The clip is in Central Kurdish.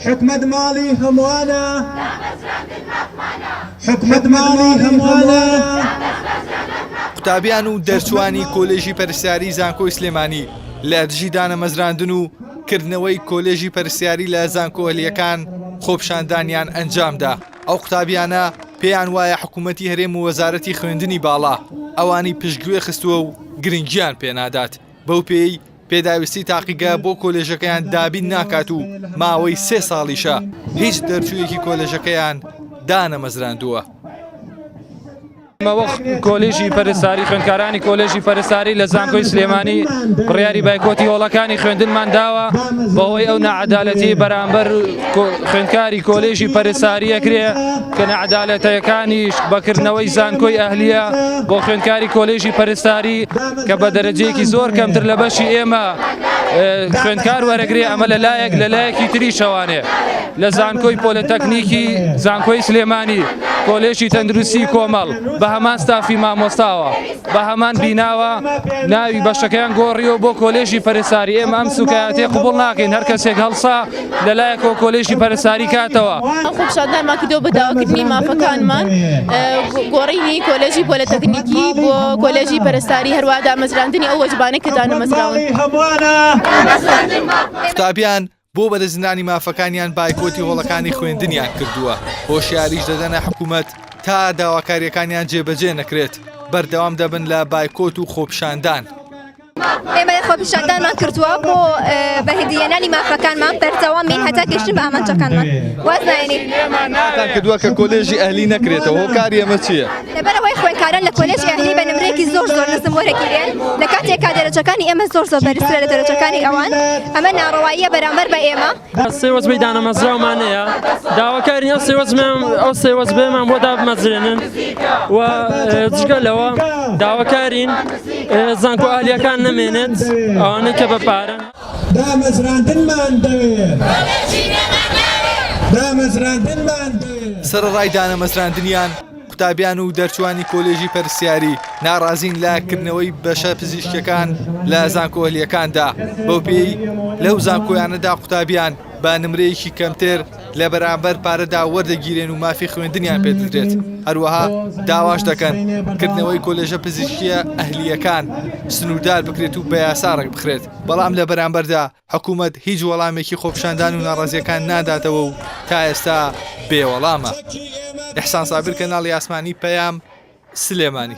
حکومەت ماڵی هەموانە دامەزراندن مافمانە. حکومەت ماڵی هەموانە دامەزراندن مافمانە. قوتابیان و دەرچووانی کۆلێژی پەرستاری زانکۆی سلێمانی لە دژی دانەمەزراندن و کردنەوەی کۆلێژی پەرستاری لە زانکۆ هەلیەکان خۆپیشاندانیان ئەنجامدا ئەو قوتابیانە پێیان وایە حکومەتی هەرێم و وەزارەتی خوێندنی باڵا ئەوانی پشتگوێ خستووە و گرنگیان پێنادات بەو پێیەی پێداویستی تاقیگە بۆ کۆلێژەکەیان دابین ناکات و ماوەی سێ ساڵیشە هیچ دەرچوویەکی کۆلێژەکەیان دانەمەزراندووە. مەوەخ کۆلێژی پەرستاری خوێندکارانی کۆلێژی پەرستاری لە زانکۆی سلێمانی بڕیاری بایکۆتی هۆڵەکانی خوێندنمان داوە بەوەی ئەو نەعەدالەتی بەرامبەر خوێندکاری کۆلێژی پەرستاریە کرێ کە نەعەدالەتەکانیش بەکردنەوەی زانکۆی ئەهلیە بۆ خوێندکاری کۆلێژی پەرستاری کە بە دەرەجەیەکی زۆر کەمتر لە بەشی ئێمە خوێندکار وەرەگری ئەمە لە لایەک لە لایەکی تری شەوانێ لە زانکۆی پۆلەتەکنیکی زانکۆی سلێمانی کۆلێشی تەندروستی کۆمەڵ بە هەمان ستافی مامۆستاوە بە هەمان بیناوە ناوی بەشەکەیان گۆڕیەوە بۆ کۆلێژی پەرساری ئێمە ئەم سوکایەتی قوبڵ ناکەین هەر کەسێک هەڵسا لەلایەکەوە کۆلێژی پەرستاری کاتەوە. ئەم خۆپیشاندانمان کردووە بۆ داواکردنی مافەکانمان، گۆڕینی کۆلێژی پۆلێتەکنیکی بۆ کۆلێژی پەرستاری، هەروەها دامەزراندنی ئەو وەجبانەی کە دانەمەزراون. قوتابیان بۆ بەرزنرانی مافەکانیان بایکۆتی هۆڵەکانی خوێندنیان کردووە، هۆشیاریش دەدەنە حکومەت تا داواکارییەکانیان جێبەجێ نەکرێت، بەردەوام دەبن لە بایکۆت و خۆپیشاندان. ئێمە خۆپیشاندانمان کردووە بۆ بەهدیێنانی مافەکانمان بەردەوامی هەتا گەشتن بە ئامانجەکانمان وازناێنی کردووە کە کۆلێژی ئەهلی نەکرێتەوە کاری ئەمە چییە لەبەرەوەی خوێنکاران لە کۆلێژ ئەهلی بە نمرێکی زۆر زۆر نزم وەرەگیرێن لە کاتێکا دەرەجەکانی ئێمە زۆر زۆر بەرزترە لە دەرەجەکانی ئەوان ئەمە ناڕەواییە بەرامبەر بە ئێمە سێوەزبەی دانەمەزراومانەیە داواکارین ئەو سێوەزمان ئەو سێوەزبێمان بۆ دابمەزرێنن و جگە لەوە داواکارین زانکۆ ئالیەکان نەمێنێت ئەوانەی کە بە پارە دامەزراندنمان دەوێت دامەزراندنمان دەوێت سەرەڕای دانەمەزراندنیان قوتابیان و دەرچووانی کۆلێژی پەرستیاری ناڕازین لە کردنەوەی بەشە پزیشکیەکان لە زانکۆ ئەهلیەکاندا، بەو پێیەی لەو زانکۆیانەدا قوتابیان بە نمرەیەکی کەمتر لە بەرامبەر پارەدا وەردەگیرێن و مافی خوێندنیان پێدەدرێت، هەروەها داواش دەکەن کردنەوەی کۆلێژە پزیشکیە ئەهلیەکان سنوردار بکرێت و بە یاسا ڕێکبخرێت، بەڵام لە بەرامبەردا حکومەت هیچ وەڵامێکی خۆپیشاندان و ناڕەزیەکان ناداتەوە و تا ئێستا بێ وەڵامە. ئیحسان سابر کەناڵی ئاسمانی پەیام سلێمانی.